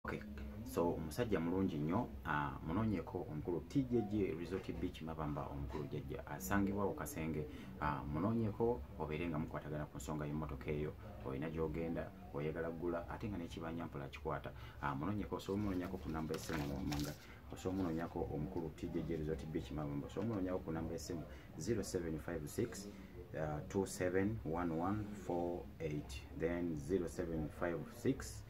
okay. so omusajja mulungi nnyo ah, munonyeko omukulu tjj resort beach mabamba omukulu jajja asangibwa ku kasenge ah, munonyeko obeere nga mukwatagana ku nsonga y'emmotoka eyo olina gyogenda oyagala gula ate nga nekibanja mpola kikwata ah, munonyeko osobola omunonyako ku namba esimu mumanga osobola omunonyako omukulu tjj resort beach mabamba osobola omunonyako ku namba esimu 0756 271148 then 0756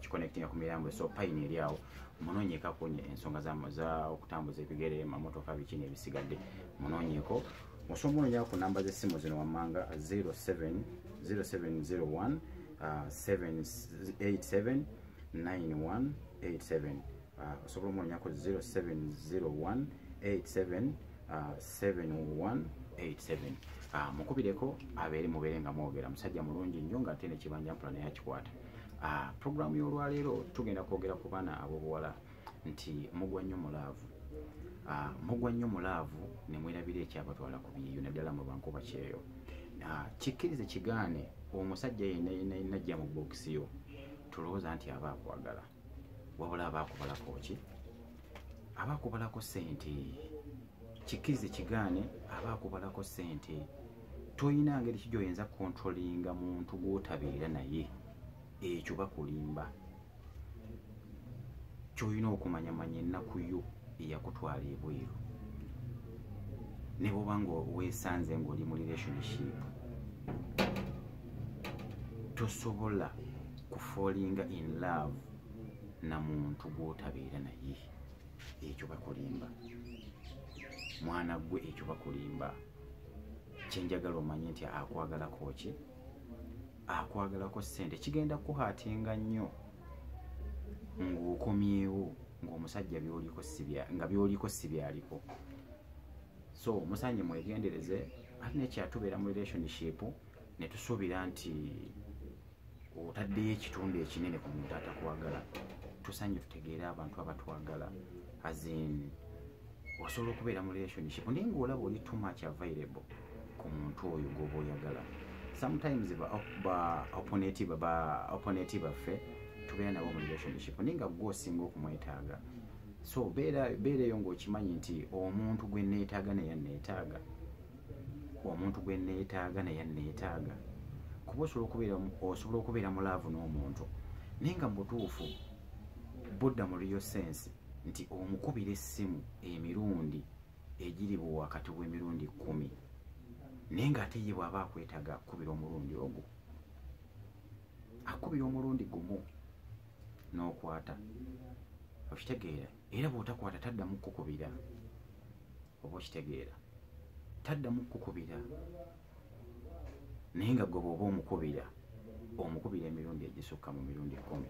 kikonekitinga ku mirambo so payini eri awo munoonyeko akunye ensonga za okutambuza ebigere mamotoka biki nebisigadde munoonyeko osobola ononya ku namba z'essimu zino wammanga 0701 879187 ah, osobola omuwonyako 0701 87 718 ah, mukubireko abeere mubeere nga mwogera musajja mulungi nnyo nga ate nekibanja mpula naye akikwata ah, puroguramu y'olwaleero tugenda kwogera ku baana ab'obuwala nti mugwa nnyo mu laavu ah, mugwa nnyo mu laavu ne mwerabira ekyabatwala ku byeyo naddala mu bankuba kyeyo ah, kikkirize kigaane omusajja yenna yenna yenna jja mu bookisi yo tulowooza nti aba akwagala wabula abaakubalako ki abaakubalako ssente kikkirize kigaane abaakubalako ssente tolina ngeri ki gyoyinza kontrolinga muntu gwotabeera naye ekyo bakulimba kyolina okumanyamanya ennaku yo eyakutwala ebweru ne bwoba nga weesanze ngaoli mu relationship tosobola kufoolinga in love na muntu gwotabeera naye ekyo bakulimba mwana gwe ekyo bakulimba kyenjagala omanye nti akwagalako ki akwagalako sente kigenda kuhatinga nnyo ng'okomyewo ng'omusajja byoliko nga byoliko si byaliko so musanye mwegendereze ate nekyatubeera mu relationship ne tusuubira nti otaddeyo ekitundu ekinene ku muntu atakwagala tusanye tutegeere abantu abatwagala azin osobola okubeera mu relationship naye ngaolaba oli too much available ku muntu oyo gwoba oyagala sometimes baoponeti baffe tubeera nabo mu relationship naye nga gwe osinga okumwetaaga so beera eyo ngaokimanyi nti omuntu gwe neetaaga naye neetaaga omuntu gwe nneetaaga naye nneetaaga kuba osobola okubeera osobola okubeera mu laavu n'omuntu naye nga mu butuufu budda mu real sense nti omukubira essimu emirundi egiri bwe wakati w'emirundi kkumi naye ng'ate ye bw'aba akwetaaga akukubira omulundi ogwo akukubira omulundi gumu n'okwata okitegeera era bw'otakwata taddamu kukukubira oba okitegeera taddamu kukukubira naye nga gwe bwoba omukubira omukubira emirundi egisukka mu mirundi kumi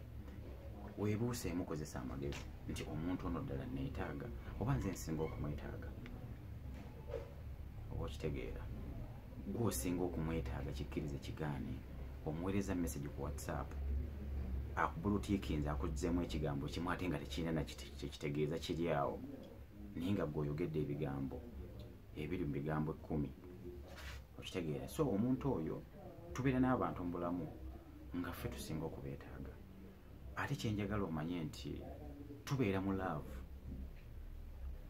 webuuse emukozesa amagezi nti omuntu ono ddala neetaaga oba nze nsinga okumwetaaga oba okitegeera gwe osinga okumwetaaga kikkirize kigaane omuweereza message ku whatsapp akubulutiikinze akuzzemu ekigambo kimu ate nga tekirina nakitegeeza kiri awo naye nga gwe oyogedde ebigambo ebiri mu bigambo ekkumi okitegeera so omuntu oyo tubeera n'abantu mu bulamu nga ffe tusinga okubeetaaga ate kyenjagala omanye nti tubeera mu laavu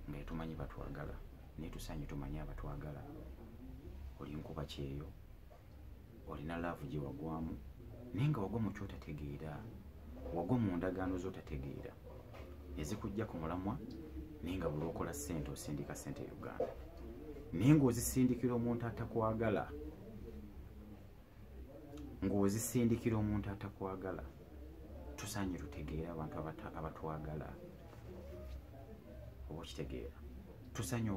nga etumanyi batwagala naye tusaanye tumanye abatwagala olinkuba kyeyo olina laavu gye wagwamu naye nga wagwa mu kyotategeera wagwa mu ndagaano z'otategeera ezikujja ku mulamwa naye nga buli okola ssente osindika ssente e uganda naye ng'ozisindikira omuntu atakwagala ng'ozisindikira omuntu atakwagala tusaanye tutegeere abantu abatwagala oba okitegeera tusaanye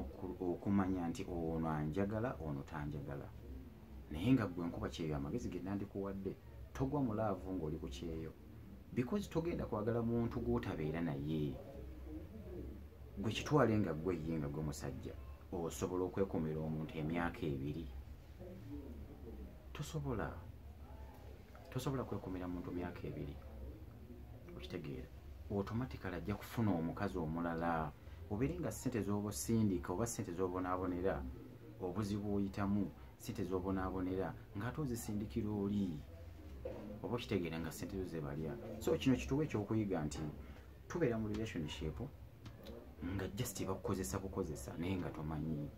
okumanya nti ono anjagala ono tanjagala naye nga gwe nkuba kyeyo amagezi ge nandikuwadde togwa mu laavu ng'oli ku kyeyo because togenda kwagala muntu gw'otabeera naye gwe kitwale nga gwe ye nga gwe musajja osobola okwekumira omuntu emyaka ebiri tosobola tosobola kwekumira muntu myaka ebiri okitegeera automatically ajja kufuna omukazi omulala obeere nga sente zoba osindika oba sente zobonaabonera obuzibu oyitamu sente zobonaabonera ngaate ozisindikira oli oba okitegeera nga sente zo zebalya so kino kituwa ekyokuyiga nti tubeera mu relationship nga just bakukozesa bukozesa naye nga tomanyi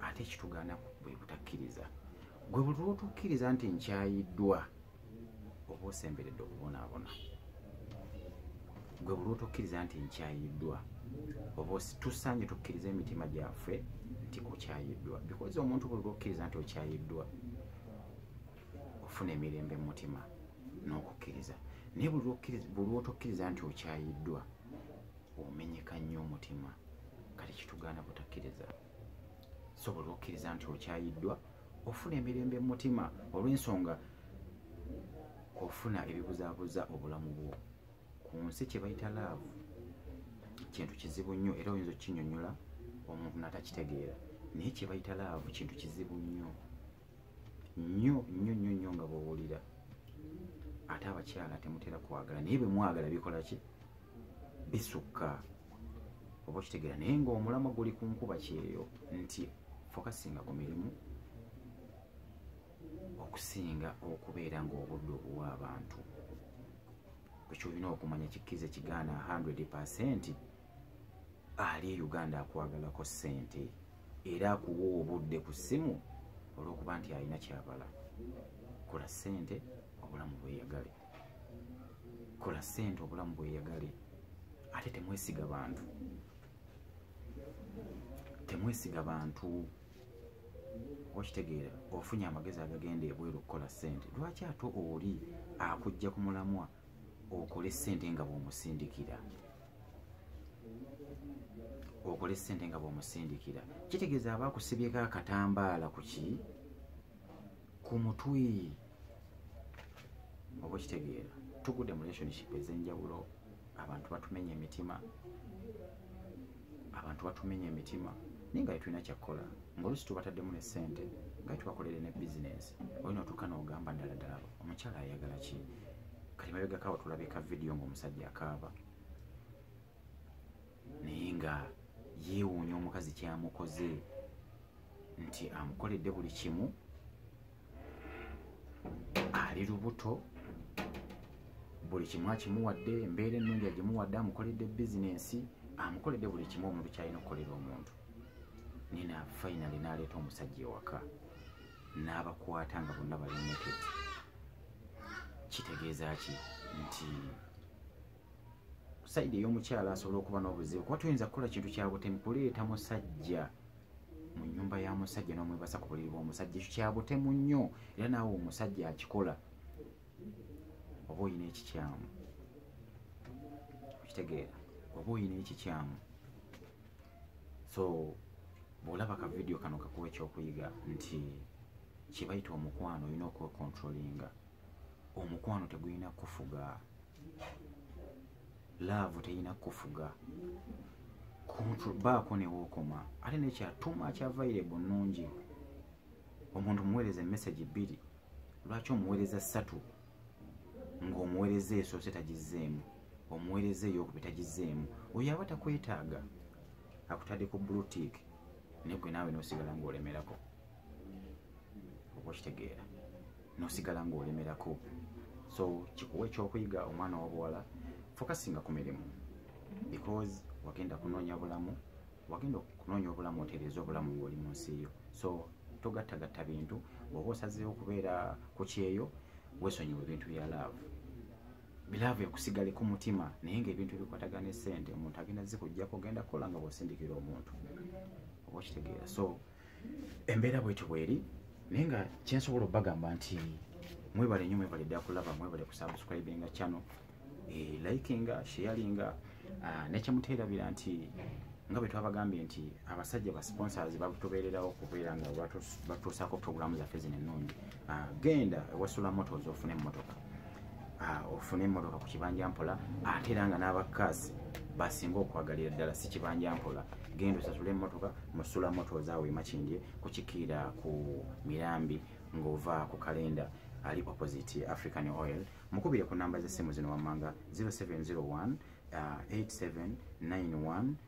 ate ekitugaana bwe butakkiriza gwe buli lwotukkiriza nti nkyayiddwa oba osemberedde okubonaabona gwe buli lwotukkiriza nti nkyayiddwa oba tusaanye tukkiriza emitima gyaffe nti okyayiddwa bikozi omuntu buli lwokkiriza nti okyayiddwa ofuna emirembe mu mutima n'okukkiriza naye buli lwotokkiriza nti okyayiddwa no omenyeka nnyo omutima kati kitugaana butakkiriza sobola okkiriza nti okyayiddwa ofuna emirembe mu mutima olw'ensonga ofuna ebibuzaabuza obulamu bwo ku nsi kye bayita laavu kintu kizibu nnyo era oyinza okukinyonyola omuntu natakitegeera naye kyebayita laavu kintu kizibu nnyo nnyo nnyo nnyo nnyo nga bwowulira ate abakyala temutera kwagala naye bemwagala bikola ki bisukka oba okitegera naye ngaomulamwa guli ku nkuba kyeyo nti fokasinga ku mirimu okusinga okubeera ngaobudde obuwa abantu ekyolina okumanya kikkiriza ekigaana 100 pecenti ali e uganda akwagalako sente era akuwa obudde ku ssimu olwokuba nti alina kyabala kola sente obulamu bweyagale kola sente obulamu bweyagale ate temwesiga bantu temwesiga bantu okitegeera ofunye amagezi agagenda ebweru okukola sente lwaki ate oli akujja ku mulamwa okole sente nga bwomusindikira okole sente nga bwomusindikira kitegeeza aba akusibyeko akatambaala kuki ku mutwe oba okitegeera tugude mu relationship ezenjawulo abantu batumenya emitima abantu batumenya emitima naye nga tetulina kyakkola ngaolusi tubataddemu ne ssente nga tubakolere ne bizinesi olina otuuka noogamba ddala ddala omukyala ayagala ki kati mabegakawa tulabika vidiyo ngaomusajja akaaba naye nga yeewuunya omukazi kyamukoze nti amukoledde buli kimu ali lubuto buli kimu akimuwadde embeera ennungi agimuwadde amukoledde bizinensi amukoledde buli kimu omuntu kyalina okukolera omuntu nina fainale naleeta omusajja ewaka n'abakwata nga bonna bali naked kitegeeza ki nti saidi ey'omukyala asobola okuba n'obuzibu kuba tuyinza kukola kintu kya butemu kuleeta musajja mu nyumba ya musajja n'omwebasa ku buliri bw'omusajja ekyo kya butemu nnyo era naawe omusajja akikola oba olina ekikyamu okitegeera oba olina ekikyamu so bw'olaba ka vidiyo kano kakuwa ekyokuyiga nti kyebayita omukwano olina okwekontrolinga omukwano tegulina kufuga laavu terina kufuga baako newookoma ate nekyatuma kyavaire bu nnungi omuntu omuweereza emesagi bbiri lwaki omuweereza ssatu ng'omuweereza esoose tagizzeemu omuweereza eyokubi tagizzeemu oyo aba takwetaaga akutadde ku blutik naye gwe naawe nosigala ng'olemerako oba okitegeera nosigala ngaolemerako so kikuwa ekyokuyiga omwana wabuwala fokasinga ku mirimu because wagenda kunoonya bulamu wagenda okunoonya obulamu otereeza obulamu ngaoli mu nsi yo so togattagatta bintu bwoba osazeewo okubeera ku kyeyo wesonyiwa ebintu bya laavu bilaavu ekusigale ku mutima naye ngaebintu ebikwatagana esente omuntu agenda zikugjako ogenda kukola nga bwosindikira omuntu oba okitegeera so embeera bwetyo bweri naye nga kyensobola obagamba nti mwebale nyo mwebale dda kulaba mwebale kusubscribinga channel eh, likinga sharinga ah, nekyemuteerabira nti nga bwe twabagambye nti abasajja ba sponsors batubeererawo okubeera nga batuusaako programu zaffe zino ennungi ah, genda ewasula motos ofune emmotoka ah, ofune emmotoka ku kibanja mpola ate era nga n'abakazi basinga okwagalira ddala si kibanja mpola genda osasula emmotoka musula moto zaawe emakindye kukikiira ku mirambi ng'ova ku kalenda ali opposite african oil mukubire ku namba z'essimu zino wammanga 0701 8791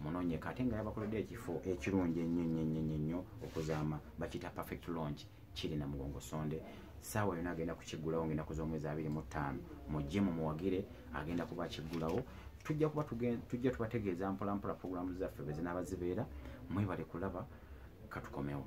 munonyeka ate nga yabakoledde ekifo ekirungi ennyo nnyo nnyo nnyo nnyo okuzaama bakiyita perfect launch kiri na mugongo sonde saawa yona agenda kukiggulawo nga enaku z'omwezi abiri mu ttaano mujje mu muwagire agenda kuba akiggulawo tujja kuba tujja tubategeeza mpolampola puroguramu zaffe bwe zinaaba zibeera mwebale kulaba katukomewo